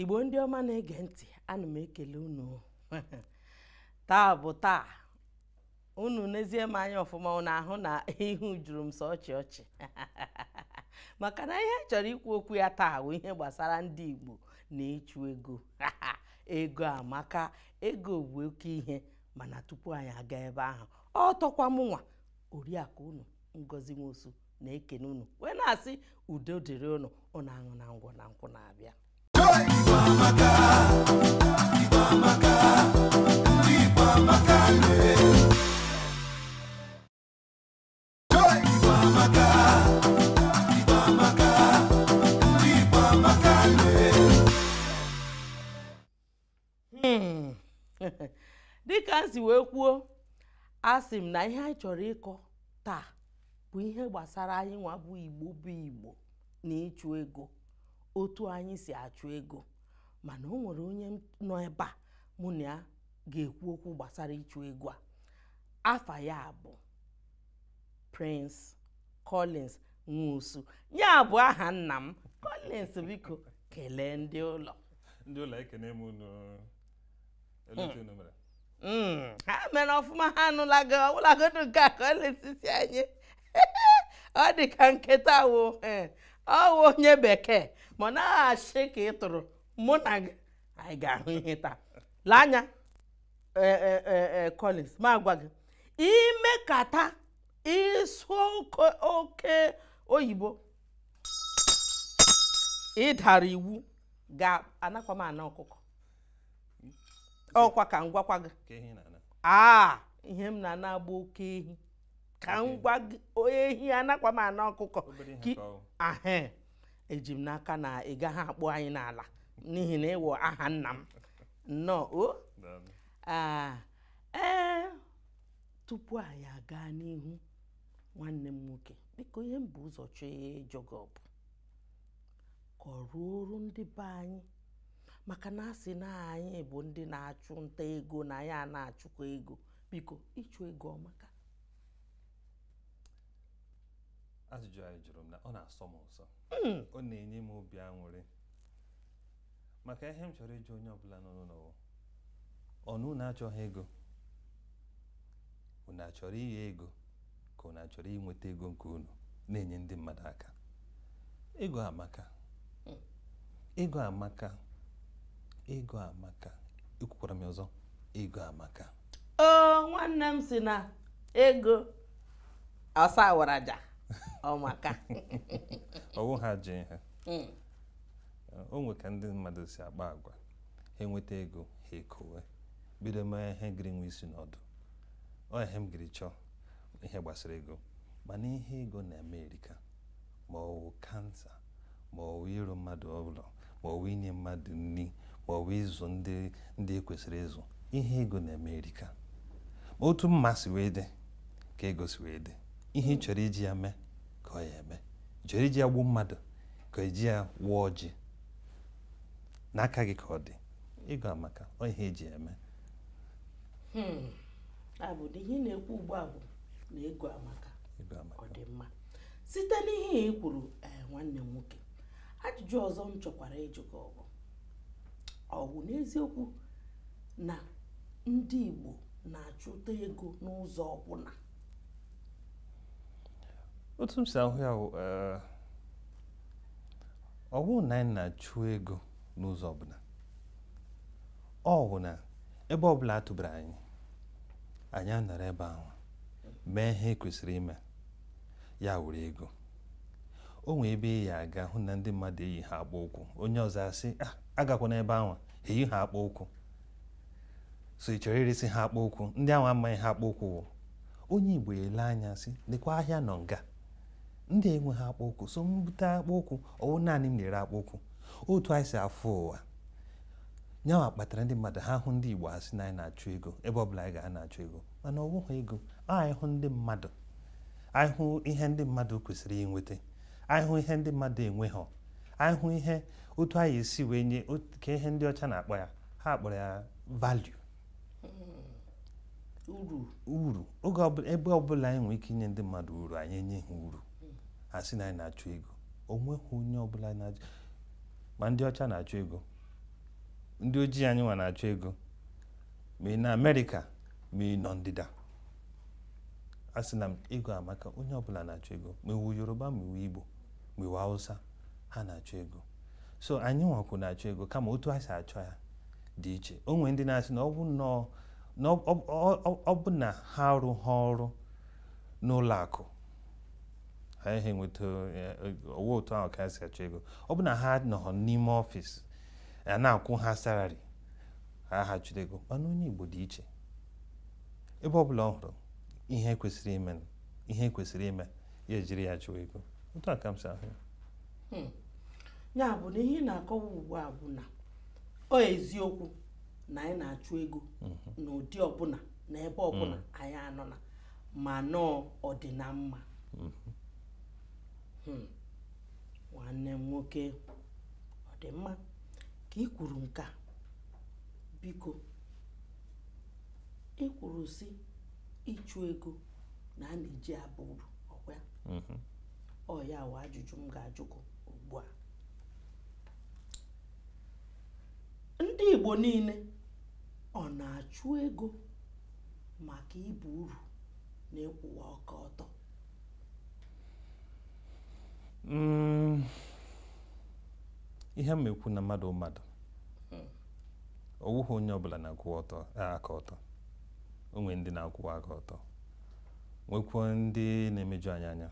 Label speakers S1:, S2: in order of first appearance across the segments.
S1: igbo ndị ọma na-ege ntị ana m ekele unu taa bụ taa unu nezie m anya ọfụma unu ahụ na ihu juru m sọ ọchị ọchị maka na ihe chọrọ ikwu okwu ya taa bụ ihe gbasara ndị igbo na ịchụ ego ego amaka ego bụ oke ihe mana tupu anyị aga ebe ahụ ọ tọkwa mụnwa oriakụ unu ngozi nwosu na-ekene unu wee na-asị udo dịrị unu unu aṅụna ngwọ na nkwụ na-abịa Igbo
S2: amaka, Igbo amaka, ndị Igbo amaka.
S1: Hmm. dịka m si wee kwuo asị m na ihe anyị chọrọ ịkọ taa bụ ihe gbasara anyịnwa bụ igbo bụ igbo na ịchụ ego otu anyị si achụ ego mana o nwere onye nọ ebe a mụ na ya ga-ekwu okwu gbasara ịchụ ego a afa ya bụ Prince Collins Nwosu ya bụ aha nna m Collins biko kelee ndị ụlọ ndị ụlọ ekene
S3: m unu elee etu unu mere Mm. ha
S1: mere ọfụma ha anụlago ọbụlagodu nke a Collins sị anyị ọ dị ka nke taa wo eh, ọ wụ onye bekee ma ọ naghị achị ka ị tụrụ mụ na gị anyị ga-ahụ ihe taa lee anya eh, eh, eh, eh, Collins ma gwa gị i mekata ị sụọ oke oke oyibo ị dara iwu ga-anakwa m ana ọkụkọ ọ kwa ka m gwakwa gị ka ehi na-ana aa ihe m na-ana gị bụ oke ehi ka m gwa gị ehi anakwa m ana ọkụkọ obere ihe Ki- ka ọ ahe eji m n'aka na ị gaghị akpụ anyị n'ala n'ihi na ị wụ aha nna m nnọọ o daalụ. Ah, ee tupu anyị agaa n'ihu nwanne m nwoke biko ihe m bu ụzọ chọọ ịjụ gị bụ ka o ruoro ndị be anyị maka na a sị na anyị bụ ndị na-achụ nta ego na anyị a na-achụkwa ego biko ịchụ ego ọ
S3: maka ajụjụ a ị jụrụ m na ọ na-asọ m ụsọ ọ na-enye m obi aṅụrị maka ihe m chọrọ ịjụ onye ọbụla nọ n'ụlọ ọnụ unu achọghị ego unu achọrọ ighe ego ka unu achọrọ inweta ego nke unu na-enye ndị mmadụ aka ego amaka hmm. ego amaka ego amaka ekwukwara m ọzọ ego amaka oo
S1: nwanne m sị na ego ọsa waraja ọ
S3: maka ọ wụ ha ji ihe hmm. o nwe ka ndị mmadụ si akpa agwa ha enweta ego ha ekowe bido mee ihe gịrị nwe isi na ọdụ ọ ihe m gịrị chọọ ihe gbasara ego mana ihe ego na-eme erika ma ọ wụ kansa ma ọ wụ ịrụ mmadụ ụlọ ma ọ wụ inye mmadụ nri ma ọ wụ ịzụ ndị e kwesịrị ịzụ ihe ego na-eme erika ma otu mma si wee dị ka ego si wee dị ihe ị chọrọ iji ya mee ka ọ ya eme ị chọrọ iji ya gbuo mmadụ ka eji ya waa ọjị n'aka gị ka ọ dị ego amaka ọ ihe eji eme hmm.
S1: abụdị ihe ị na-ekwu ugbu a bụ na ego amaka ọ dị mma site n'ihe i kwuru eh, nwanne m nwoke ajụjụ ọzọ m chọkwara ịjụ gị ọ bụ ọ wụ n'eziokwu na ndị Igbo na-achụta ego n'ụzọ ọbụla
S3: otu m si ahụ ya bụ eh, ọ bụrụ na anyị na-achụ ego n'ụzọ ọbụla ọ bụ na ebe ọbụla atụbara anyị anyị anọrọ ebe ahụ mee ihe e kwesịrị ime ya were ego o nwee ebe ị ya aga hụ na ndị mmadụ eyi ha akpụ ụkwụ onye ọzọ asị ah, agakwana ebe ahụ ha eyi ha akpụ ụkwụ so ị chọrọ iresi ha akpụ ụkwụ ndị ahụ amaghị ihe akpụ ụkwụ wụ onye igbo ele anya sị lekwa ahịa nọ nga ndị a enwe ha akpụ ụkwụ so m bute akpụ ụkwụ ọ wụ naanị m na-ere akpụ ụkwụ otu anyị si afụ ụwa nyawa kpatara ndị mmadụ ha hụ ndị igbo asị na anyị na-achụ ego ebe ọ bụla anyị ga-ana achụ ego mana ọ bụghị ego anyị hụ ndị mmadụ anyị hụ ihe ndị mmadụ kwesịrị inweta anyị hụ ihe ndị mmadụ enweghị anyị hụ ihe otu anyị esi wee nye kee ihe ndị ọcha na-akpọ ya ha kpọrọ ya value hmm. uru oge ebe ọbụla anyị nwere ike inye ndị mmadụ uru anyị enye ha uru hmm. asị na anyị na-achụ ego onweghị onye ọbụla na-achụ ma ndị ọcha na-achụ ego ndị ojii anyị nwa na-achụ ego ma ị nọ amerịka ma ị nọ ndịda a sị na ego amaka onye ọbụla na-achụ ego ma ị wụ yoruba ma ị wụ igbo gbo ị wụ Awụsa ha na-achọ ego so anyị nwakwu na-achọ ego kama otu a si achọ ya dị iche o nwere ndị na-asị na ọ bụ na ha arụha ọrụ n'ụlọ akụ ha ihe nweta ọwa otu ahụ ka ha si achọ ego ọ bụ na ha anọghọ n'ime ọfịs a na-akwụ ha salary ha ha chụrụ ego mana onye Igbo dị iche ebe ọ bụla ọ hụrụ ihe kwesịrị ime ihe kwesịrị ime ya ejiri ya chụọ ego otu a ka m si ahụ ya hmm.
S1: ya bụ na ihe ị na-akọwa ugbu a bụ na ọ eziokwu na anyị na-achụ ego mhm. n'ụdị ọbụla na ebe ọbụla mhm. anyị anọna ma nọọ ọdịna mma mhm. hmm. nwanne m nwoke ọ dị mma ka ị kwuru nke a biko ị kwuru sị ịchụ ego na a na-eji aba uru ọkwa ya mhm. ọ ya wụ ajụjụ m ga-ajụkwu ugbu a ndị Igbo niile ọ na-achụ ego maka ịba uru na ịkwụwa aka ọtọ mm.
S3: ihe m ekwu na mmadụ mmadụ ọ wụghị onye ọbụla na-akwụwa aka ọtọ o nwere ndị na-akwụwa aka ọtọ nwekwuo ndị na-emeju anyị anya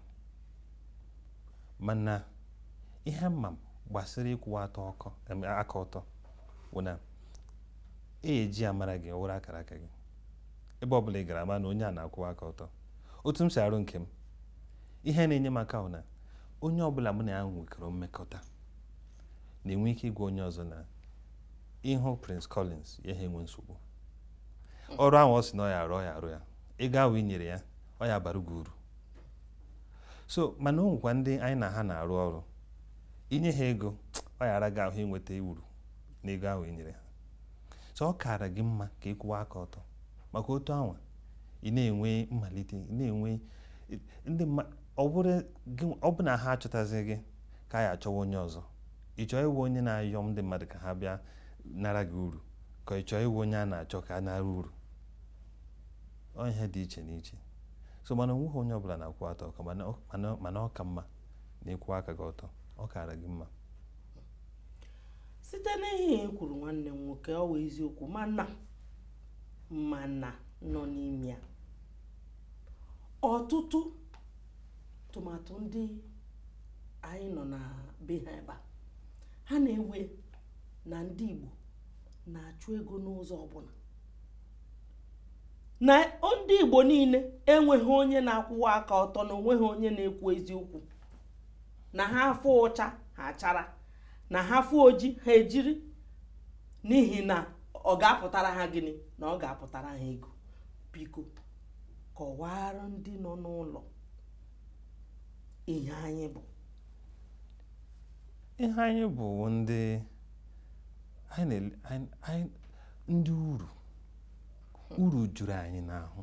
S3: mana ihe m ma gbasara ịkwụwa atọ ọkọ aka ọtọ bụ na e ji amara gị ọ wụrụ akara aka gị ebe ọ bụla ị gara a ma na onye a na-akwụwa aka ọtọ otu m si arụ nke m ihe na-enye m aka bụ na onye ọbụla mụ na ya nwekọrọ mmekọta na-enwe ike ịgwa onye ọzọ na ị hụ Prince Collins ị yaha enwe nsogbu ọrụ ahụ ọ sị na ọ ya arụ ọ ya arụ ya ego ahụ i nyere ya ọ ya abara gị uru so mana o nwekwa ndị anyị na ha na-arụ ọrụ i nye ha ego ọ ya ara gị ahụ inweta uru n'ego ahụ i nyere ha so ọ kaara gị mma ka ị kwụwa aka ọtọ maka otu anwa ị na-enwe mmalite ị na-enwe ndị ọ bụ na ha achọtazi gị ka a ya achọwa onye ọzọ ị chọọ ịwụ onye na-ayọ ndị mmadụ ka ha bịa nara gị uru ka ị chọọ ịwụ onye a na-achọ ka a nara uru ọ ihe dị iche n'iche so mana o nweghị onye ọbụla na-akwụwa atọ ọka mana ọ ka mma na ị kwụwa aka gị ọtọ ọ kaara gị mma
S1: site n'ihe i kwuru nwanne m nwoke ọ wụ eziokwu mana mana nọ n'ime ya ọtụtụ tụmadụ ndị anyị nọ na be ha ebe ha na-ewe na ndị Igbo na-achụ ego n'ụzọ ọbụla na ndị Igbo niile enweghị onye na-akwụwa aka ọtọ na onweghị onye na-ekwu eziokwu na ha fụ ọcha ha achara na ha fụ oji ha ejiri n'ihi na ọ ga-apụtara ha gịnị na ọ ga-apụtara ha ego biko kọwara ndị nọ n'ụlọ ihe anyị
S3: bụ ihe anyị bụ ndị ndị uru uru juru anyị n'ahụ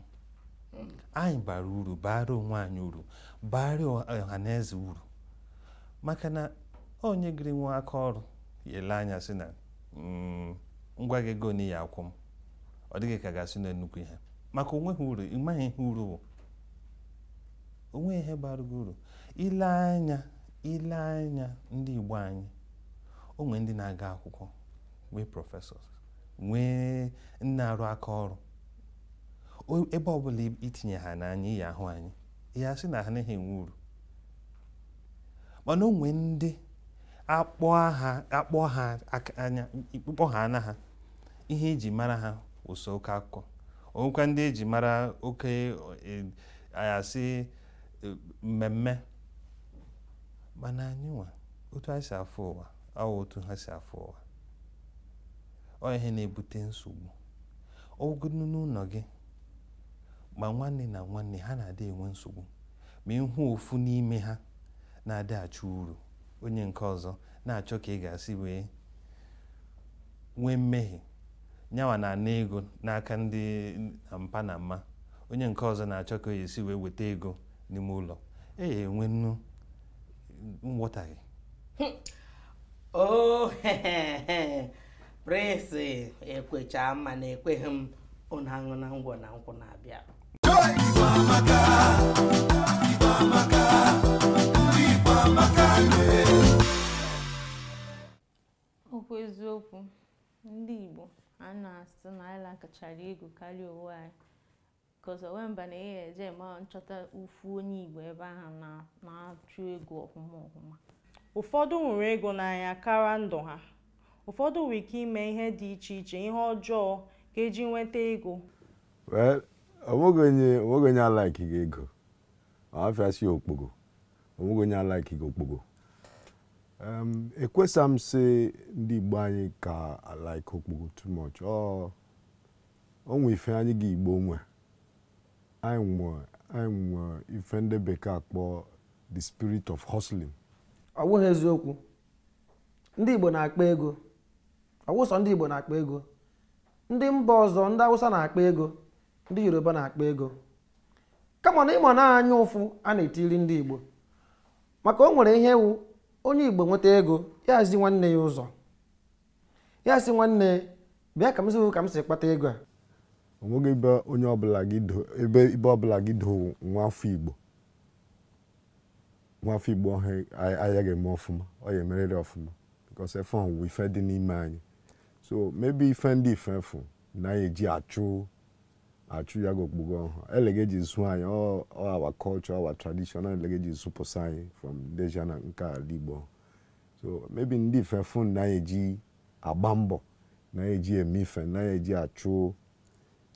S3: anyị bara uru bara onwe anyị uru bara ọha na eze uru maka na onye gịrị nwee aka ọrụ ya ele anya sị na mm, m gwa gị ego nị ị ya-akwụ m ọ dị gị ka ị ga-asị na nnukwu ihe maka onweghị uru ị maghị ihe uru bụ onwe ihe bara gị uru ile anya ile anya ndị Igbo anyị onwe ndị na-aga akwụkwọ nwee professors nwee ndị na-arụ aka ọrụ ebe ọbụla itinye ha anya ị ya-ahụ anyị ya sị na ha naghị enwe uru mana onwe ndị akpọ ha anya ị kpọ aha ana ha ihe eji mara ha wụ sọ oke akụkọ onwekwa ndị eji mara oke e, a ya-asị e, mmemme mana anyị nwa otu anyị si afụ ụwa awụghị otu ha si afụ ụwa ọ ihe na-ebute nsogbu ọgụgụ n'ụlọ gị ma nwanne na nwanne ha na-adị enwe nsogbu ma ị hụ ofu n'ime ha na-adị achọ uru onye nke ọzọ na-achọ ka ị ga-esi wee nwee mmehie nyawa na-ana ego n'aka ndị mpa na mma onye nke ọzọ na-achọ ka ọ ya-esi wee weta ego n'ime ụlọ a ya-enwenụ nghọtahie oh,
S1: Prince ekwecha ma na ekweghị m ụnụ aṅụna ngwọ na nkwụ na-abịa
S4: Okwu eziokwu, ndị Igbo a na-asị na anyị likechara ego karịa onwe anyị because o nwe mba na ị ya-eje ma ị chọta ofu onye Igbo ebe ahụ na- na-achụ ego ọhụma ọhụma
S5: ụfọdụ hụrụ ego n'anya kara ndụ ha ụfọdụ nwere ike ime ihe dị iche iche ihe ọjọọ ka eji nweta ego Well,
S6: onweghị onye onweghị onye alikeghị ego ọhafịa sị ya okpogho onweghị onye alikeghị okpogho ekwesa m sị ndị igbo anyị ka alike okpogho too much o nwe ife anyị gị igbo nwe anyị nwe anyị nwe ife ndị bekee akpọ the spirit of hustling ọ
S7: bụghị eziokwu ndị igbo na-akpa ego ọ wụ sọ ndị igbo na-akpa ego ndị mba ọzọ ndị awụsa na-akpa ego ndị yoruba na-akpa ego kama na ị ma na anya ụfụ a na-etiri ndị Igbo maka o nwere ihe wụ onye Igbo nweta ego ya zi nwanne ya ụzọ ya sị nwanne bịa ka m si ka m si kpata ego a onweghị ebe
S6: onye ọbụla gị ebe ibe ọbụla gị do nwa afọ Igbo nwa afọ Igbo ọhụ ayaghị eme ọfụma ọ ya emerịrị ọfụma because ife ọhụ ife dị n'ime anyị so maybe ife ndị ife fụ na anyị eji achụ achụ ya aga okpogho ọhụ elege e ji zụ anyị ọ our culture our tradition ọ elege e ji zụpụsa anyị from deja na nke ala igbo so maybe ndị ife fụ na eji agba mbọ na eji eme ife na eji achụ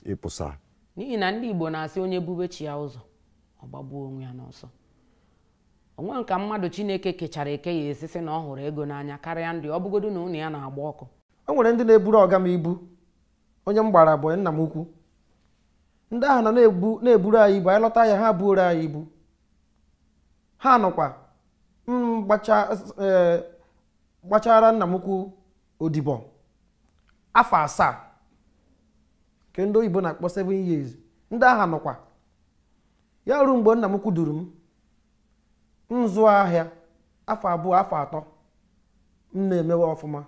S6: ịpụsa n'ihi na
S8: ndị igbo na-asị onye bube chi ya ụzọ ọ gbagbuo onwe ya n'ọsọ o nwe nka mmadụ chineke kechara eke ya esisi na ọ hụrụ ego n'anya karịa ndị ọ bụgodu na ụnọ ya na-agba ọkụ o nwere ndị na-eburu
S7: ọga m ibu onye m gbara boy nna m ukwu ndị ahụ nọ na-eburu anyị ibu anyị lọta ahịa ha buoro anyị ibu ha nọkwa m e, gbachara nna m ukwu odibo afọ asaa nke ndị oyibo na-akpọ 7 years ndị ahụ nọkwa ya ruo mgbe nna m ukwu duru m m zụọ ahịa afọ abụọ afọ atọ m na-emewe ọfụma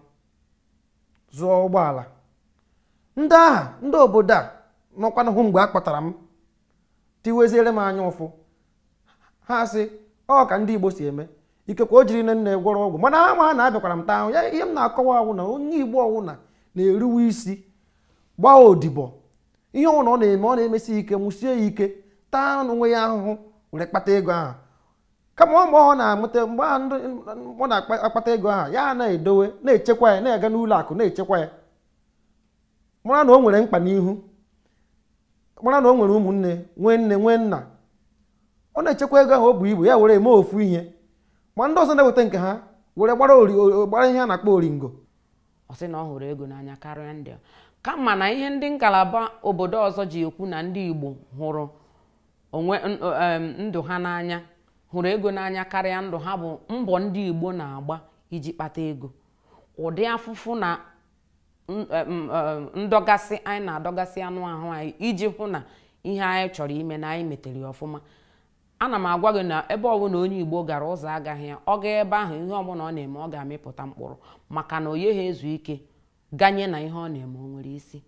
S7: zụọ ụgbọala ndị aha ndị obodo a nọkwanụ hụ mgbe a kpọtara m tiweziere m anya ụfụ ha sị ọ ka ndị igbo si eme ikekwe o jiri nne nne gwọrọ ọgwụ mana ha ma na abịakwara m taa ahụhụ ya ihe m na-akọwa wụ na onye igbo ọwụna na-eruwe isi gbaa odibo ihe ọwụna ọ na-eme ọ na-emesi ike mụsie ya ike taa onwe ya ahụhụ were kpata ego ahụ kama ọ mgbe ọ na-amụta mgbe a ndị ọ na-akpata ego ahụ ya na-edowe na-echekwa ya na-aga n'ụlọ akụ na-echekwa ya mara na o nwere mkpa n'ihu mara na o nwere ụmụnne nwee nne nwee nna ọ na-echekwa ego ahụ o buo ibu ya were eme ofu ihe ma ndị ọzọ nweta nke ha were gbara ori- o- gbara ihe a na-akpọ oringo ọ sị na ọ
S8: hụrụ ego n'anya karịa ndị ọ. kama na ihe ndị ngalaba obodo ọzọ ji ekwu na ndị igbo hụrụ onwe ndụ ha n'anya hụrụ ego n'anya karịa ndụ ha bụ mbọ ndị Igbo na-agba iji kpata ego ụdị afụfụ na ndọgasị anyị na-adọgasị anụ ahụ anyị iji hụ na ihe anyị chọrọ ime na anyị metere ọfụma ana m agwa gị na ebe ọbụla onye Igbo gara ụzọ agaghị ya ọ gaa ebe ahụ ihe ọbụla ọ na-eme ọ ga-amịpụta mkpụrụ maka na ọ naghị ezu ike ganye na ihe ọ na-eme o nwere isi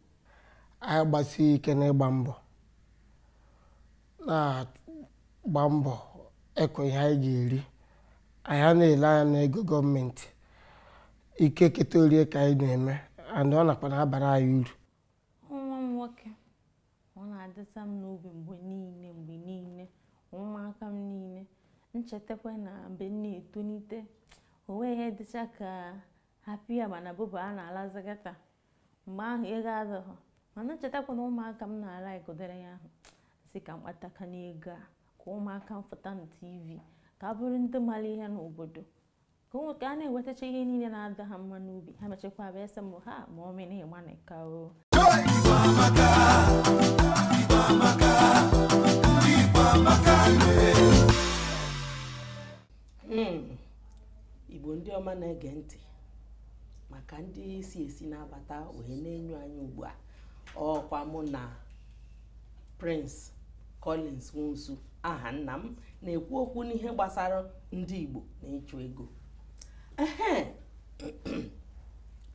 S7: anyị gbasie ike n'ịgba mbọ na-agba mbọ ịkọ ihe anyị ga-eri anyị anaghị ele anya n'ego gọọmenti ike keta o rie ka anyị na-eme and ọ nakwa na-abara anyị uru nwa
S4: m nwoke ọ na-adịsa m n'obi mgbe niile mgbe niile ụmụaka m niile m chetakwa na mgbe m na-etonite o nweghị ihe dịcha ka hapụ ya mana bụbụ a na-alazi gata mgbe ahụ ego adịghị mana m chetakwa na ụmụaka m na-ala igodere ya ahụ si ka m kpatakwanụ ego a ka ụmụaka m fụta na tv ka ha bụrụ ndị mara ihe n'obodo ka ụmụ ka ha na-enwetacha ihe niile na-adị ha mma n'obi ha mechakwa abịa sị m ha ma ọ mere ịgba na ka o Igbo amaka
S1: hmm. Igbo ndị ọma na-ege ntị maka ndị si esi na-abata wee na-enyo anyị ugbu a ọ wụkwa mụ na Prince Collins Nwosu aha nna m na-ekwu okwu n'ihe gbasara ndị Igbo na ịchụ ego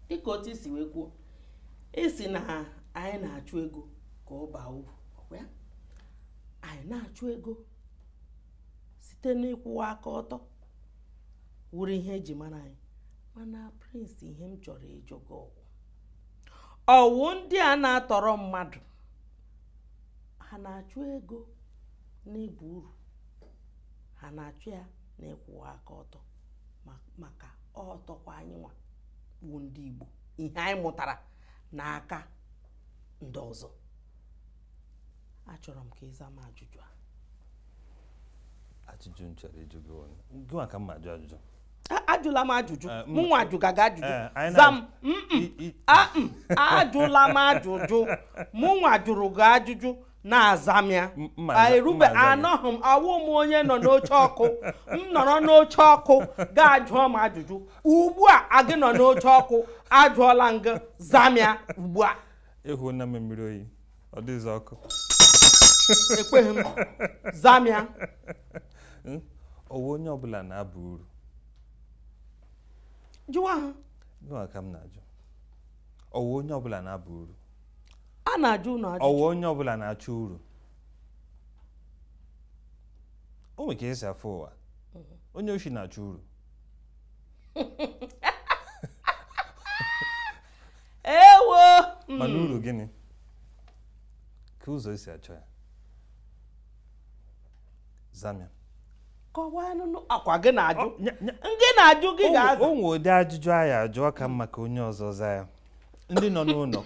S1: dịka otu i si wee kwuo ị sị na anyị na-achụ ego ka ọ baa uru ọkwa anyị na-achụ ego site n'ịkwụwa aka ọtọ wụrụ ihe e ji mara anyị mana Prince ihe m chọrọ ịjụ gị ọ wụ ọ wụ ndị a na-atọrọ mmadụ ha na-achụ ego n'ịba uru ha na-achụ ya n'ịkwụwa aka ọtọ maka ọtọkwa anyị nwa bụ ndị Igbo ihe anyị mụtara n'aka ndị ọzọ achọrọ m ka ị zaa m ajụjụ
S3: a ajụjụ m chọrọ ịjụ gị ọnụ gị maka m ma ajụ ajụjụ ajụla m
S1: ajụjụ eh, mụ nwa ajụga gị ajụjụ eh, za m ajụla m ajụjụ mụ nwa jụrụ gị ajụjụ na-aza m ya erube anọghị m awụ m onye nọ n'oche ọkụ m nọrọ n'oche ọkụ gị ajụọ m ajụjụ ugbu a gị nọ n'oche ọkụ ajụọla m gị za m ya ugbu a ịhụ na mmiri
S3: oyi ọ dịghịzi
S1: ọkụ ekweghị m zaa m ya
S3: Hmm? ọ wụ onye ọbụla na-aba uru
S1: jụwa ha gịnwa ka m na-ajụ
S3: ọ wụ onye ọbụla na-aba uru a
S1: na-ajụ unu ajụ ọ wụ onye ọbụla
S3: na-achọ uru o nwere ka esi afụ ụwa onye oshi na-achọ uru
S1: ewo hmm.
S3: mana uru gịnị kee ụzọ esi achọ ya zaa
S1: m ya kọwanụ ọkwa gị na-ajụ ngị na-ajụ gị ga-aza o nwe ụdị ajụjụ
S3: a ya-ajụ ọ ka mma ka onye ọzọ za ya ndị nọ n'ụlọ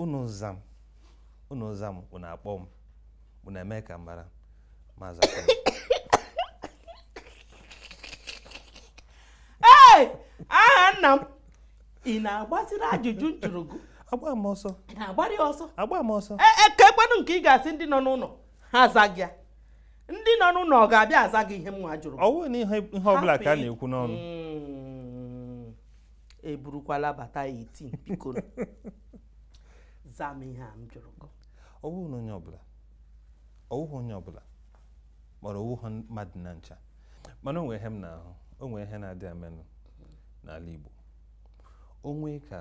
S3: unu zaa m unu zaa m unu akpọ m unu eme ka m mara ma zakwa
S1: aha nna m ị na-agbaziri ajụjụ m jụrụ gị agba m
S3: ọsọ na-agbari
S1: ọsọ agba m ọsọ e,
S3: e, kekwanụ nke
S1: ị ga-asị ndị nọ n'ụlọ ha zaa gị ya ndị nọ n'ụlọ ọ ga-abịa aza gị ihe mụwa jụrụ ọ bụghị na ihe ọbụla
S3: ka a na-ekwu n'ọnụ hmm.
S1: eburukwala bata 18 biko za m ihe a m jụrụ gị ọ bụghị na onye
S3: ọbụla ọ bụghị onye ọbụla mara ọ wụha mmadụ na ncha mana o nwe ihe m na-ahụ o nwe ihe na-adị amenụ n'ala Igbo o nwe ka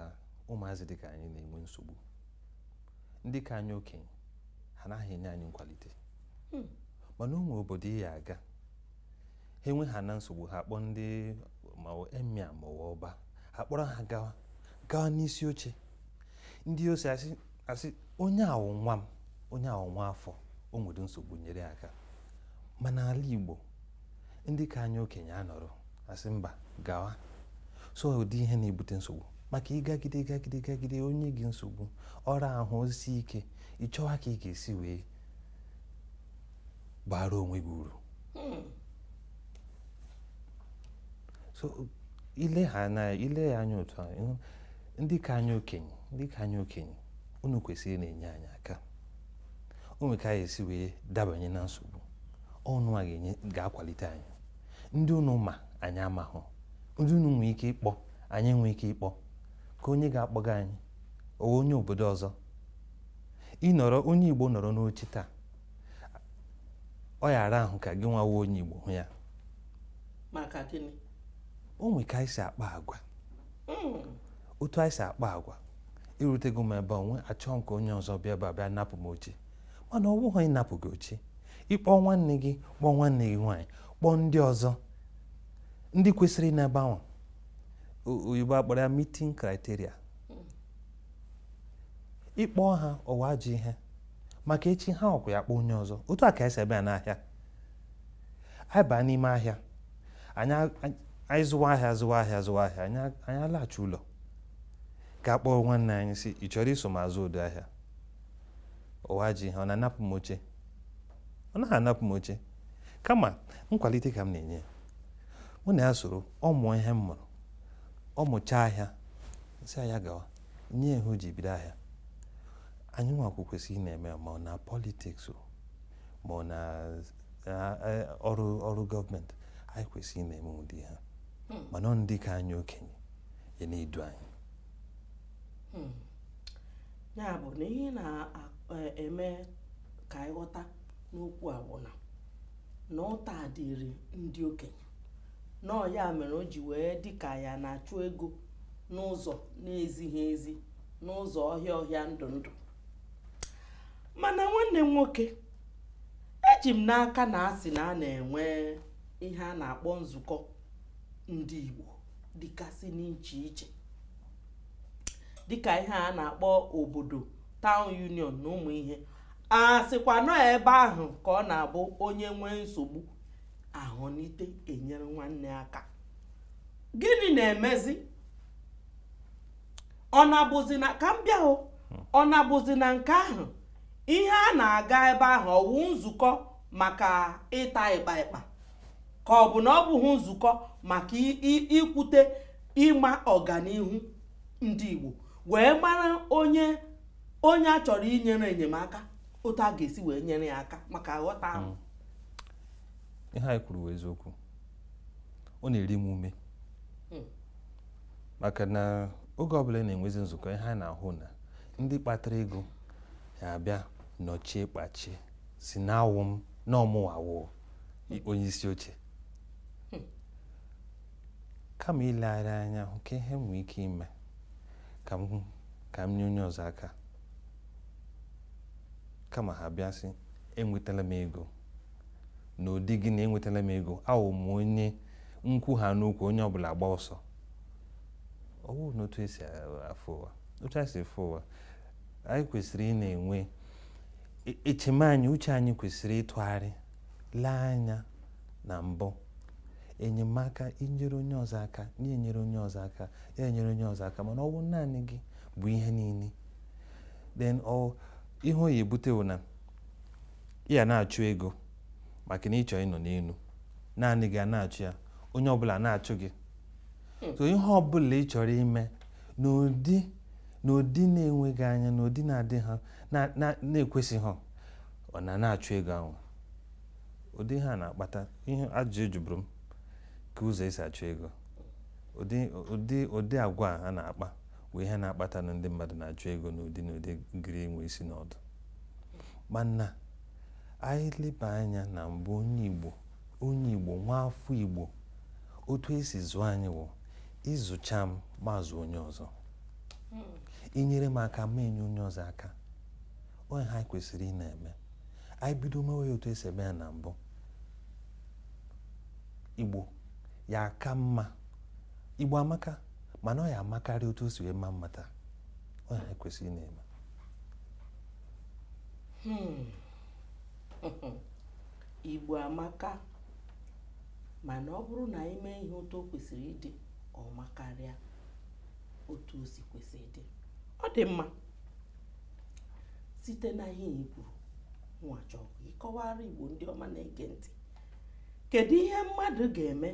S3: ụmụazị dị ka anyị na-enwe nsogbu ndị ka anyị okenye ha naghị enye anyị nkwalite hmm. mana o nwe obodo ị ya-aga ha enwe ha na nsogbu ha kpọrọ ndị ma emir ma ọba ha kpọrọ ha gawa gawa n'isi oche ndị isi asị onye a wụ nwa m onye a wụ nwa afọ o nwere nsogbu nyere aka mana ala Igbo ndị ka anyị okenye anọrọ asị mba gawa so ụdị ihe na-ebute nsogbu maka ịgagide gagide gagide o nye gị nsogbu ọ raa ahụ o sie ike ịchọwa ka ị ga-esi wee baara onwe gị uru hmm. so ile ha na ile ya anya otu ahụ ndị ka anyị okenye ndị ka anyị okenye unu kwesịrị na-enye anyị aka o nwere ka anyị si wee dabanye na nsogbu ununwa ga-enye ga-akwalite anyị ndị unu ma anyị amahụ ndị unu nwee ike ịkpọ anyị nwee ike ịkpọ kee onye ga-akpọga anyị ọ wụ onye obodo ọzọ ịnọrọ onye Igbo nọrọ n'oche taa ọ ya ara ahụ ka gịnwa wụ onye Igbo hụ ya maka
S1: gịnị o nwere
S3: ka anyị si akpa agwa hmm. otu anyị si akpa agwa erutego m ebe ahụ achọọ m ka onye ọzọ bịa ebe a bịa napụ m oche mana ọ bụghị ịnapụ gị oche ị kpọọ nwanne gị kpọọ nwanne gị nwaanyị kpọọ ndị ọzọ ndị kwesịrị n'ebe ahụ oyibo akpọrọ ya meeting criteria ịkpọ ha ọwụ ajọ ihe maka echi ha ọkwa ya kpọọ onye ọzọ otu a ka esi aba n'ahịa anyị baa n'ime ahịa anyị zụwa ahịa zụwa ahịa zụwa ahịa anyị alaghachi ụlọ gaa kpọọ nwanne anyị sị ị chọrọ iso m azụ ụdị ahịa ọwụ ajọ ihe ọ na-anapụ m oche ọ naghị anapụ m oche kama nkwalite ka m na-enye ya mụ na ya soro ọ mụọ ihe m mụrụ ọ mụchaa ahịa sị ya gawa nye ihe o ji bido ahịa anyị nwakwụ kwesịrị ị na-eme ma ọ na politics ma ọ na ọrụ ọrụ gọọmenti anyị kwesịrị ị na-eme ụdị ihe a hmm. mana ọ ndị ka anyị okenye ya na-edu anyị
S1: hmm. ya bụ na ihe na-eme e, ka anyị ghọta n'okwu a bụ na na ụta dịrị ndị okenye na ọ ya mere o ji wee dị ka ya na-achụ ego n'ụzọ na-ezighị ezi n'ụzọ ọhịa ọhịa ndụ ndụ mana nwanne m nwoke eji m n'aka na a sị na a na-enwe ihe a na-akpọ nzukọ ndị Igbo dịgasị n'iche iche dịka ihe a na-akpọ obodo town union na ụmụ ihe a sịkwa na ọ ebe ahụ ka ọ na-abụ onye nwee nsogbu ahụnite enyere nwanne aka gịnị na-emezi ọ na-abụzi na ka m bịa ọ na-abụzi na nke ahụ ihe a na-aga ebe ahụ ọwụ nzukọ maka ịta ịkpa ịkpa ka ọ bụ na ọ bụghị nzukọ maka ikwute ịma ọganihu ndị Igbo wee mara onye onye a chọrọ inyere enyemaka otu a ga-esi wee nyere ya aka maka aghọtahụ m
S3: hmm. ihe anyị kwuru wụ eziokwu ọ na-eri m ume hmm. maka na oge ọbụla a na-enwezi nzukọ ihe anyị na-ahụ na ndị kpatara ego ya abịa nọchie kpachie sị na awụ m na ọ mụwa wụ onye isi oche kama ilegharị anya hụ ka ihe nwee ike ime ka m ka m nye onye ọzọ aka kama ha bịa sị enwetala m ego n'ụdị gị na enwetala m ego awụ m onye nkwu ha n'okwu onye ọbụla agbaa ọsọ ọ bụrụ na otu esi afụ ụwa otu anyị si fụ ụwa anyị kwesịrị ị na-enwe E, eche m anyị uche anyị kwesịrị ịtụgharị lee anya na mbụ enyemaka inyere onye ọzọ aka ya enyere onye ọzọ aka ya enyere onye ọzọ aka mana ọ bụ naanị gị bụ ihe niile then ihe ọ ya ebute wụ na ị ya na-achụ ego maka na ị chọ ịnọ n'elu naanị gị a na-achụ ya onye ọbụla na-achụ gị hmm. so ihe ọbụla ị chọrọ ime n'ụdị na ụdị na-enweghị anya na ụdị na-adị ha na-ekwesị ha ọ na na-achụ ego ahụ ụdị ha na-akpata ihe ajụjụ ị jụbụrụ m ka ụzọ esi achụ ego ụdị agwa ha na-akpa bụ ihe na-akpata na ndị mmadụ na-achụ ego n'ụdị na-adịghị enwe isi na ọdụ mana anyị leba anya na mbụ onye Igbo onye Igbo nwa afọ Igbo otu esi zụọ anyị wụ ị zụcha m m azụ onye ọzọ i nyere m aka m enye onye ọzọ aka ọ ihe anyị kwesịrị ị na-eme anyị bido mewe ya otu esi eme ya na mbụ igbo ya aka mma igbo amaka mana ọ ya amakarị otu o si wee ma mma taa ọ ihe anyị kwesịrị ị na-eme hmm.
S1: igbo amaka mana ọ bụrụ na anyị mee ihe otu o kwesịrị ịdị ọ makarịa otu o si kwesị ịdị ọ dị mma site na ihe i kwuru nwa chọọ ka ị kọwara igbo ndị ọma na-ege ntị kedu ihe mmadụ ga-eme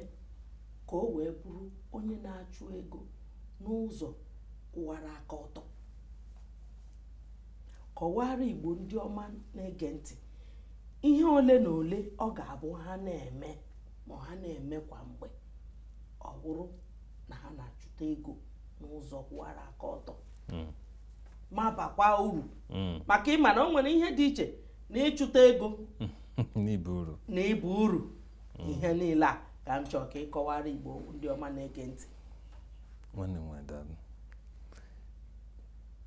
S1: ka o wee bụrụ onye na-achụ ego n'ụzọ kwụwara aka ọtọ kọwara igbo ndị ọma na-ege ntị ihe ole na ole ọ ga-abụ ha na-eme ma ha na-eme kwa mgbe ọ bụrụ na ha na-achụta ego n'ụzọ kwụwara aka ọtọ hmm. ma bakwa uru hmm. maka ị ma na o nwere ihe dị iche na ịchụta ego na ịba uru hmm. ihe niile a ka m chọọ ka ị kọwara igbo ndị ọma na-ege ntị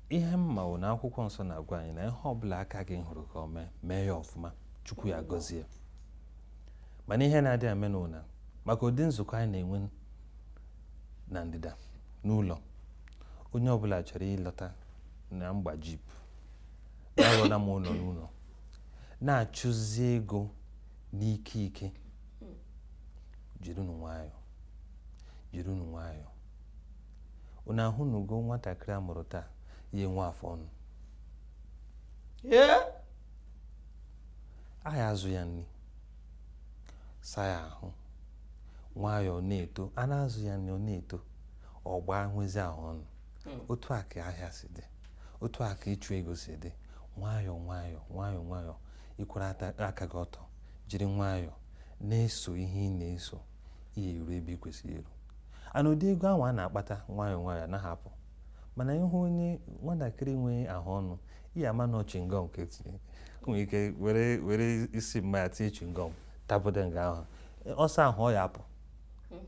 S3: ihe m ma wụ na akwụkwọ nsọ na-agwa anyị na ihe ọbụla aka gị hụrụ ka o mee mee ya ọfụma chukwu ya gọzie mana ihe na-adị eme n'ụna maka ụdị nzukọ anyị na-enwe na ndịda n'ụlọ onye ọbụla chọrọ ịlọta na m gba jeep na arụọla m ụlọ n'ụlọ na-achụzi ego n'ike ike jirinụ nwayọọ jirinụ nwayọọ unu ahụnugo nwatakịrị a mụrụ taa ya enwe afọ ọnụ a ya azụ ya nri saa ya ahụ nwayọọ na-eto a na-azụ ya nri ọ na-eto ọ gbaa nwezi ahụ ọnụ hmm. otu a ka ahịa si dị otu a ka ịchụ ego si dị nwayọọ nwayọọ nwayọọ nwayọọ ị kwụwa aka gị ọtọ jiri nwayọọ na-eso ihe ị na-eso ị ya eru ebe ị kwesịrị iru and ụdị ego ahụ a na-akpata nwayọọ nwayọọ anaha apụ mana ị hụ onye nwatakịrị nwee ahụ ọnụ ị ya ama na chingom ka e tinye nwere ike were were isi mma ya tinye chingom tapụta nga ahụ ọ saa ahụ ọ ya apụ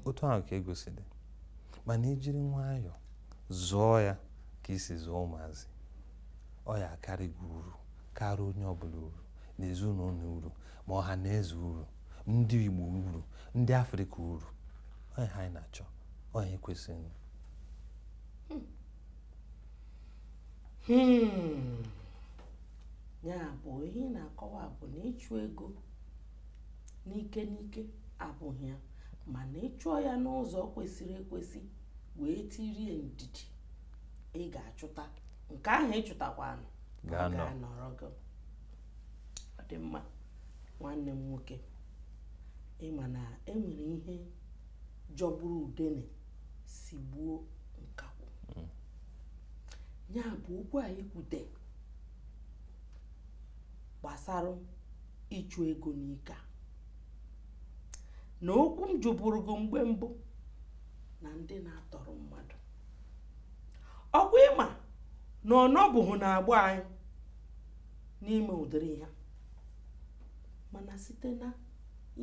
S3: otu ahụ ka ego si dị mana i jiri nwayọọ zụọ ya ka e si azụ ụmụazị ọ ya akarị gị uru karịa onye ọbụla uru na ezinụlọ uru ma ọha na eze uru ndị Igbo uru ndị Afrịka uru ọ ihe anyị na-achọ ọ ihe kwesịrị
S1: hmm. Hmm. ya bụ ihe ị na-akọwa bụ na ịchụ ego n'ike n'ike abụghị ya mana ị chụọ ya n'ụzọ kwesịrị ekwesị wee dirie ndidi ị ga-achụta nke ahụ ị chụtakwanụ ga-anọrọ gị ọ dị mma nwanne m nwoke ị ma na e nwere ihe jọgburu udene sigbuo nkakwụ hmm. ya bụ okwu anyị kwute gbasara ịchụ ego n'ike a na okwu m jụbụrụ gị mgbe mbụ na ndị na-atọrọ mmadụ ọ kwa ị ma na ọ nọbughị n'agba anyị n'ime ụdịrị ihe a mana site na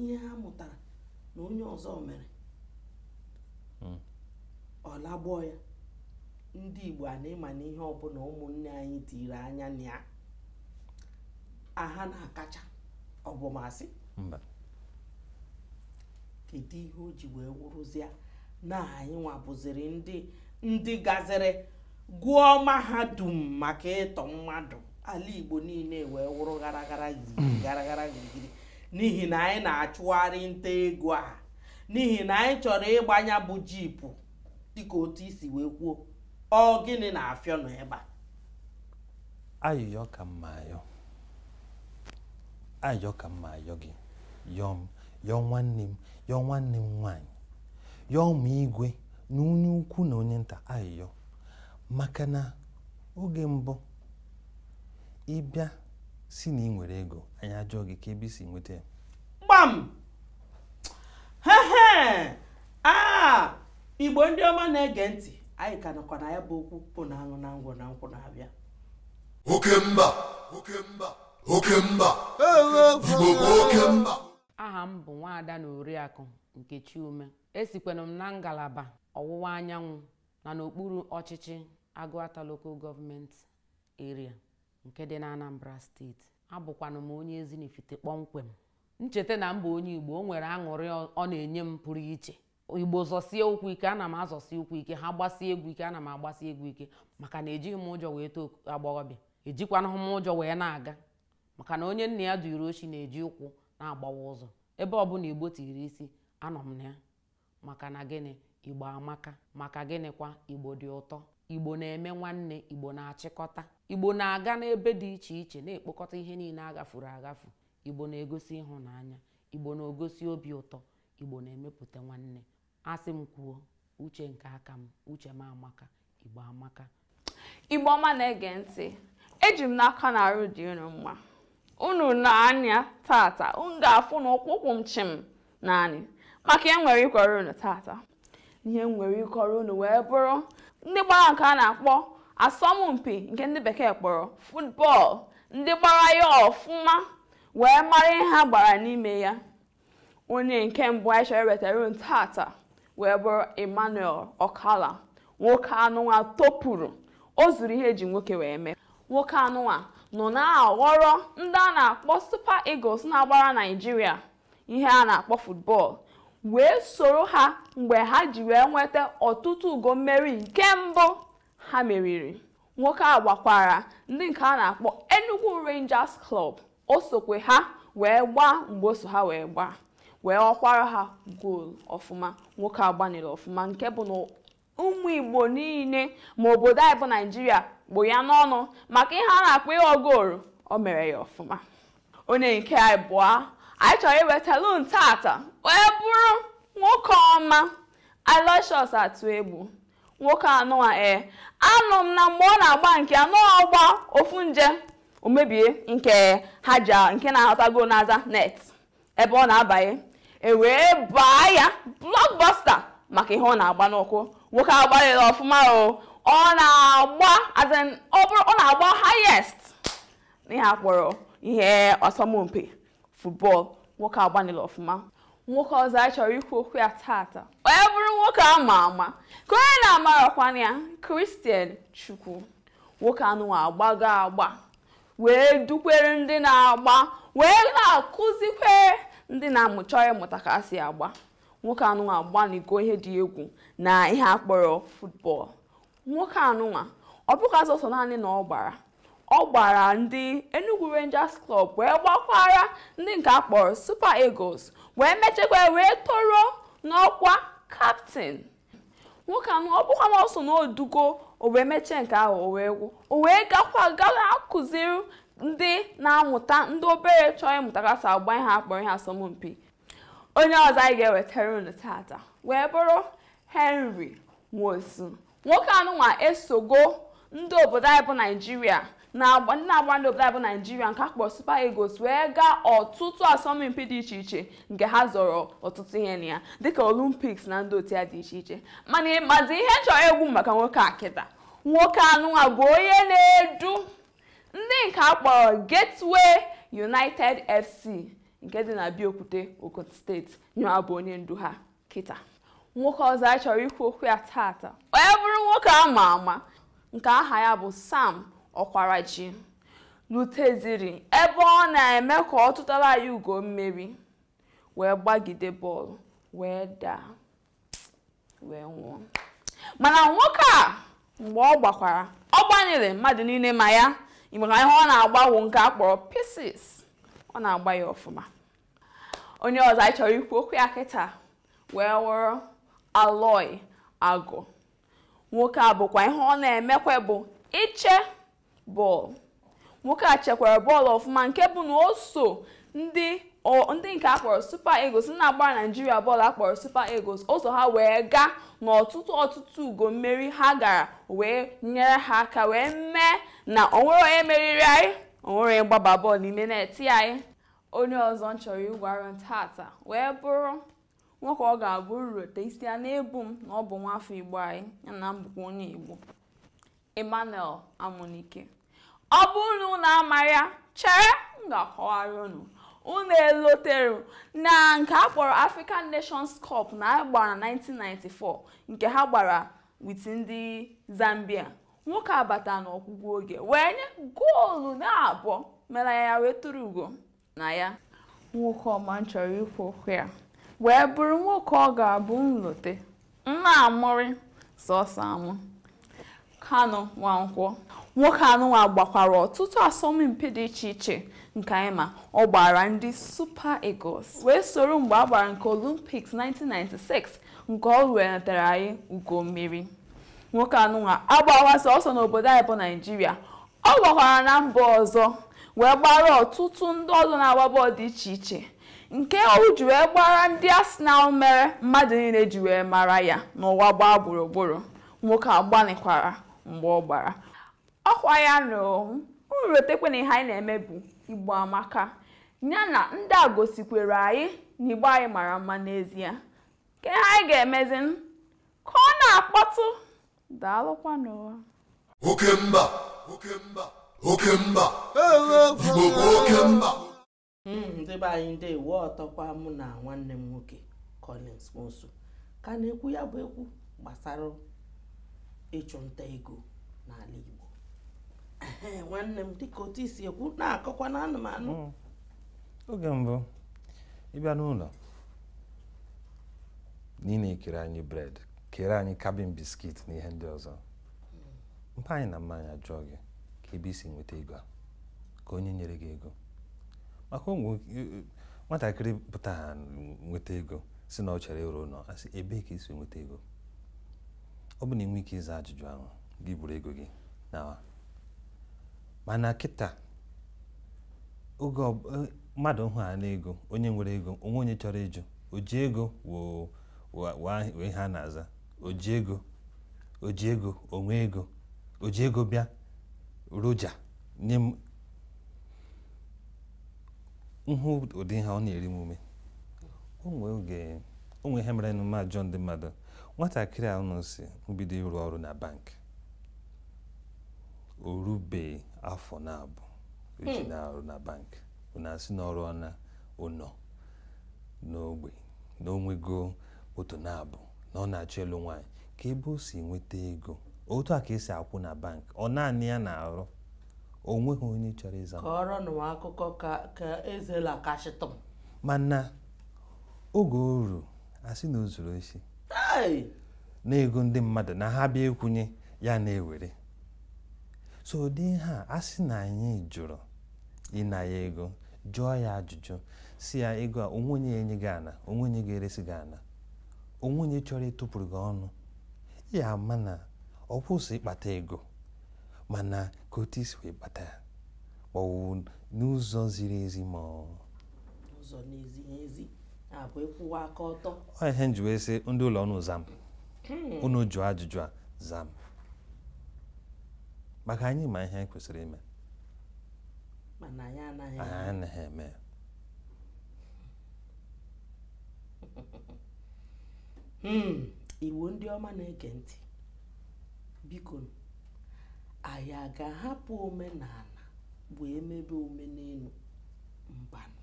S1: ihe ha mụtara na onye ọzọ mere hmm. ọ lagbọọ ya ndị Igbo a na ị ma na ihe ọbụla ụmụnne anyị tiri anya na ya ha na-akacha ọ bụ m asị kedu ihe o ji wee wụrụzie na anyịnwa bụziri ndị ndị gaziri gụọ mahadum maka ịtọ mmadụ ala igbo niile wee wụrụ gara gara gịrịgịrị gara gara gịrịgịrị n'ihi na anyị na-achụgharị nta ego a n'ihi na anyị chọrọ ịgba nya bụ jeep dịka otu i si wee kwuo ọ gịnị na-afịọ n'ebe
S3: a ayịyọ ka m na-ayọ ayịyọ ka m na-ayọ gị yọọ m yọọ nwanne m yọọ nwanne m nwaanyị yọọ m igwe na onye ukwu na onye nta ayịyọ maka na oge mbụ ị bịa sị na ị nwere ego anyị ajụọ gị kee ebe i si nweta ya gbam
S1: hehe a igbo ndị ọma na-ege ntị anyị ka nọkwa na ya bụ okwu bụ na aṅụ na ngwọ na nkwụ na-abịa
S2: oke mba oke mba oke mba igbo bụ oke mba aha m bụ
S8: nwaada na oriakụ nkechi ume Esikwanụ m na ngalaba ọwụwa anyanwụ na n'okpuru ọchịchị Agụata Local Government Area nke dị n'Anambra steeti. Abụkwanụ m onye Ezinifite kpọmkwem. M cheta na m bụ onye Igbo, o nwere aṅụrị ọ na-enye m pụrụ iche. Igbo zọsie ụkwụ ike, ana m azọsi ụkwụ ike, ha gbasie egwu ike, ana m agbasi egwu ike maka na ejighị m ụjọ wee too agbọghọbịa, ejikwanụghị m ụjọ wee na-aga. maka na onye nna ya duru oshi na-eji ụkwụ na-agbawa ụzọ ebe ọbụla igbo tiri isi anọ m na ya maka na gịnị igbo amaka maka gịnịkwa igbo dị ụtọ igbo na-eme nwanne igbo na-achịkọta igbo na-aga n'ebe dị iche iche na-ekpokọta ihe niile a ghafuru aghafu igbo na-egosi ịhụnanya igbo na-egosi obi ụtọ igbo na-emepụta nwanne a sị m kwuo uche nke aka m uche m amaka igbo amaka igbo
S4: ọma na-ege ntị eji m n'aka na arụ dị unu mma unu nee anya tata unu ga-afụ na ụkwụ ụkwụ m chịm n'anị maka ihe m nwere ịkọrọ unu tata ihe m nwere ịkọrọ unu wee bụrụ ndị gbara nke a na-akpọ asọmpi nke ndị bekee kpọrọ football ndị gbara ya ọfụma wee mara ihe ha gbara n'ime ya onye nke mbụ anyị chọrọ iwetara unu tata wee bụrụ emmanuel okala nwoke anụnwa topụrụ o zuru ihe e ji nwoke wee mee nwoke anụnwa nọ na-aghọrọ ndị a na-akpọ super eagles na-agbara naijiria ihe a na-akpọ football wee soro ha mgbe ha ji wee nweta ọtụtụ ugo mmeri nke mbụ ha meriri
S9: nwoke a gbakwara ndị nke a na-akpọ Enugu Rangers Club o sokwe ha wee gbaa mgbe o so ha wee gbaa wee ghọkwara ha goolu ọfụma nwoke a gbanịrị ọfụma nke bụ na ụmụ Igbo niile ma obodo anyị bụ Naijiria kpụ ya n'ọnụ maka ihe a na-akpọ ịghọ goolu o mere ya ọfụma onye nke ịbụa anyị chọrọ iwetara unu tata wee bụrụ nwoke ọma Aloysius Atuegbu nwoke anụwa ee anụ m na mgbe ọ na-agba nke anụ ọ gbaa ofu nje o mebie nke ha ji a- nke na-ahọtago n'aza net ebe ọ na-abanye e wee baa ya blockbuster maka ihe ọ na-agba n'ụkwụ nwoke a gbalịrị ọfụma o ọ na-agba as in, ọ bụrụ ọ na-agba highest n'ihe a kpọrọ ihe asọmpi football nwoke agbanịla ọfụma nwoke ọzọ anyị chọrọ ikwu okwu ya tata wee bụrụ nwoke a ma ama ka onye na-amarakwana ya Christian Chukwu nwoke anụnwa agbago agba wee dukwere ndị na-agba wee na-akụzikwere ndị na-amụchọ ịmụta ka a si agba nwoke anụnwa agbanigo ihe dị egwu na ihe akpọrọ football nwoke anụnwa ọ bụghịkwazị sọ naanị na ọ gbara ọ gbara ndị Enugu Rangers Club wee gbakwara ndị nke a kpọrọ Super Eagles wee mechekwa wee toro n'ọkwa captain nwoke anụwa ọ bụkwa na ọ so na o dugo o wee mechee nke ahụ o wee gwụ o wee gakwa gawa akụziri ndị na-amụta ndị obere chọọ ịmụta ka a si agba ihe akpọrọ ihe asọmpi onye ọzọ anyị ga-ewetara unu tata wee bụrụ henry nwosu nwoke anụnwa esogo ndị obodo anyị bụ naijiria na-agba ndị na-agba ndị obodo anyị bụ naijiria nke akpọ super eagles wee gaa ọtụtụ asọmpi dị iche iche nke ha zọrọ ọtụtụ ihe na ya dịka olympics na ndị otu ya dị iche iche mana ị mazi ihe m chọrọ ikwu maka nwoke a kịta nwoke anụnwa bụ onye na-edu ndị nke a kpọrọ Gateway United FC nke dị na Abeokuta Ogun State nyewa bụ onye ndu ha kịta nwoke ọzọ anyị chọrọ ikwu okwu ya taata wee bụrụ nwoke a ma ama nke aha ya bụ Sam Ọkwaraji luteziri ebe ọ na-eme ka ọ tụtara anyị ugo mmeri wee gbagide bọọlụ wee daa wee nwụọ mana nwoke a mgbe ọ gbakwara ọ gbanịrị mmadụ niile ma ya maka ihe ọ na-agbawo nke a kpọrọ pieces ọ na-agba ya ọfụma onye ọzọ anyị chọrọ ikwu okwu ya kịta wee wụrụ Aloy Agụ nwoke a bụkwa ihe ọ na-emekwa bụ iche bọọlụ nwoke a chekwara bọọlụ ọfụma nke bụ na o so ndị o- ndị nke akpọrọ super eagles ndị na-agbara naijiria bọọlụ akpọrọ super eagles o so ha wee gaa n'ọtụtụ ọtụtụ ugo mmeri ha gara wee nyere ha aka wee mee na onwere onye meriri anyị onwere onye gbaba bọọlụ n'ime net anyị onye ọzọ m chọrọ ịgwa unu tata wee bụrụ nwoke ọ ga-abụ m rote isi ana-ebu m na ọ bụ nwafọ igbo anyị ya nwa bụkwa onye igbo Emmanuel Amunike ọ bụrụ na unu amaghị ya chere m ga-akọwara unu unu elotere na nke a kpọrọ African Nations Cup na a gbara na 1994 nke ha gbara with ndị Zambia nwoke abata n'ọgwụgwụ oge wee nye goolu na abụọ mere anyị wee tụrụ ugo na ya nwoke ọma m chọrọ ikwu okwu ya wee bụrụ nwoke ọ ga-abụ m lote m na-amụrị sọsọ amụ Kanu Nwankwọ nwoke anụnwa gbakwara ọtụtụ asọmpi dị iche iche nke anyị ma ọ gbara ndị Super Eagles wee soro mgbe a gbara nke Olympics 1996 nke ọ wetara anyị ugo mmeri nwoke anụnwa agbawa sọsọ n'obodo anyị bụ Naijiria Ọ gbakwara na mba ọzọ wee gbara ọtụtụ ndị ọzọ na-agba bọọlụ dị iche iche nke o ji wee gbara ndị Arsenal mere mmadụ niile ji wee mara ya n'ụwa gbaa gburugburu nwoke a gbanịkwara mgbe ọ gbara ọkwa ya na unu rotekwa na ihe anyị na-eme bụ Igbo amaka ya na ndị a gosikwara anyị na Igbo anyị mara mma n'ezie kee ihe anyị ga-emezi ka ọ na-akpọtụ daalụkwanụ oke
S2: mba oke mba oke mba igbo bụ oke mba hmm, ndị
S1: be anyị ndeewo ọtọkwa mụ na nwanne m nwoke Collins Nwosu ka na-ekwu ya bụ ekwu gbasara ịchụ nta ego n'ala Igbo nwanne m dịka otu i si ekwu na-akọkwa na anụmanụ hmm. oge
S3: mbụ ị bịa n'ụlọ na ị na-ekere anyị bread kere anyị cabin biscuit na ihe ndị ọzọ mpa anyị na mma anyị ajụọ gị kee ebe i si nweta ego a kee onye nyere gị ego maka nwatakịrị pụta ha nweta ego sị na ọ chọrọ ịrụ ụnọ a sị ebee ka i si nweta ego ọ bụ na i nweghị ike ịza ajụjụ ahụ gị buru ego gị naa mana kịta oge a, mmadụ hụ ha n'ego onye nwere ego o nweghị onye chọrọ ịjụ o ji ego woo wụ ihe a na-aza o ji ego o ji ego o nwe ego o ji ego bịa roja nye m hụ ụdị ihe a ọ na-eri m ume o nwere ihe merenụ m ajụọ ndị mmadụ nwatakịrị a unu sị m bido ịrụ ọrụ na bank o rubeghị afọ nabụọ o ji hmm. na-arụ na bank na-asị na ọ rụọna ụnọ n'ogbe na o nwego otu na abụọ na ọ na-achọ ịlụ nwaanyị kee ebe o si nweta ego otu a ka e si akwụ na bank ọ naanị ya na-arụ o nweghị onye chọrọ ịza kọọrọnụ m akụkọ
S1: ka ka ezela kachịtụ m
S3: mana oge o ruru a sị na o zuru osi Hey! na ego ndị mmadụ na ha bịa ịkwụnye ya na-ewere so ụdị ihe a a sị na anyị jụrụ ịna ya ego jụọ ya ajụjụ sị ya ego a o nwe onye enye gị ana o nwe onye ga-eresi gị ana o nwe onye chọrọ ịtụpụrụ gị ọnụ ya ama na ọ kwụsị ịkpata ego mana ka otu i si wee kpata ya ma ọ bụ n'ụzọ ziri ezi ma ọ ụzọ
S1: na-ezighị ezi ọkwa ịkwụwa aka ọtọ ọ ihe m ji wee
S3: sị ndị ụlọ ọnụ zam hmm. unu jụọ ajụjụ a zam maka anyị ma ihe anyị kwesịrị ime
S1: mana anyị anaghị anyị anaghị
S3: eme
S1: ya hmm, igbo ndị ọma na-ege ntị biko anyị a ga-ahapụ omenala wee mebe omenelu mbanụ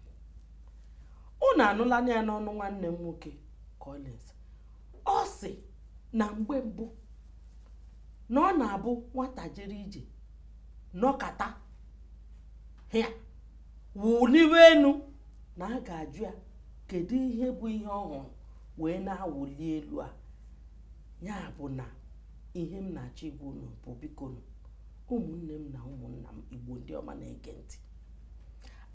S1: unu anụla ya n'ọnụ nwanne m nwoke Collins ọ sị na mgbe mbụ na ọ na-abụ nwata jere ije nọkata ya wụliwe elu na a ga-ajụ ya kedu ihe bụ ihe ọ hụrụ wee na-awụli elu a ya bụ na ihe m na-achọ ịgwa unu bụ biko ụmụnne m na ụmụnna m igbo ndị ọma na-ege ntị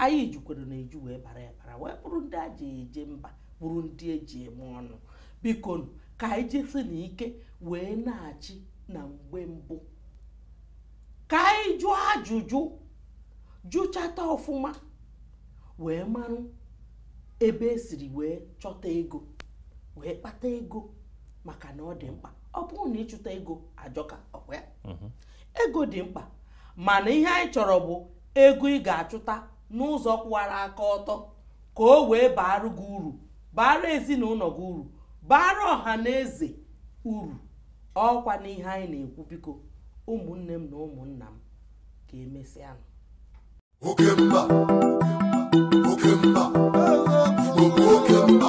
S1: anyị jukwaranụ eju wee bara abara wee bụrụ ndị e ji eje mba bụrụ ndị eji eme ọnụ biko ka anyị jisinụ ike wee nachi na mgbe mbụ ka anyị jụọ ajụjụ jụchata ọfụma wee marụ ebe esiri wee chọta ego wee kpata ego maka na ọ dị mkpa ọ bụrọ na ịchụta ego ajọka ọkwa ya mhm. ego dị mkpa mana ihe anyị chọrọ bụ ego ị ga-achụta n'ụzọ kwụwara aka ọtọ ka o wee baara gị uru baara ezinụlọ gị uru baara ọha na eze uru ọkwanụ ihe anyị na-ekwu biko ụmụnne m na ụmụnna m ka emesịanụ
S2: oke mba oke mba oke mba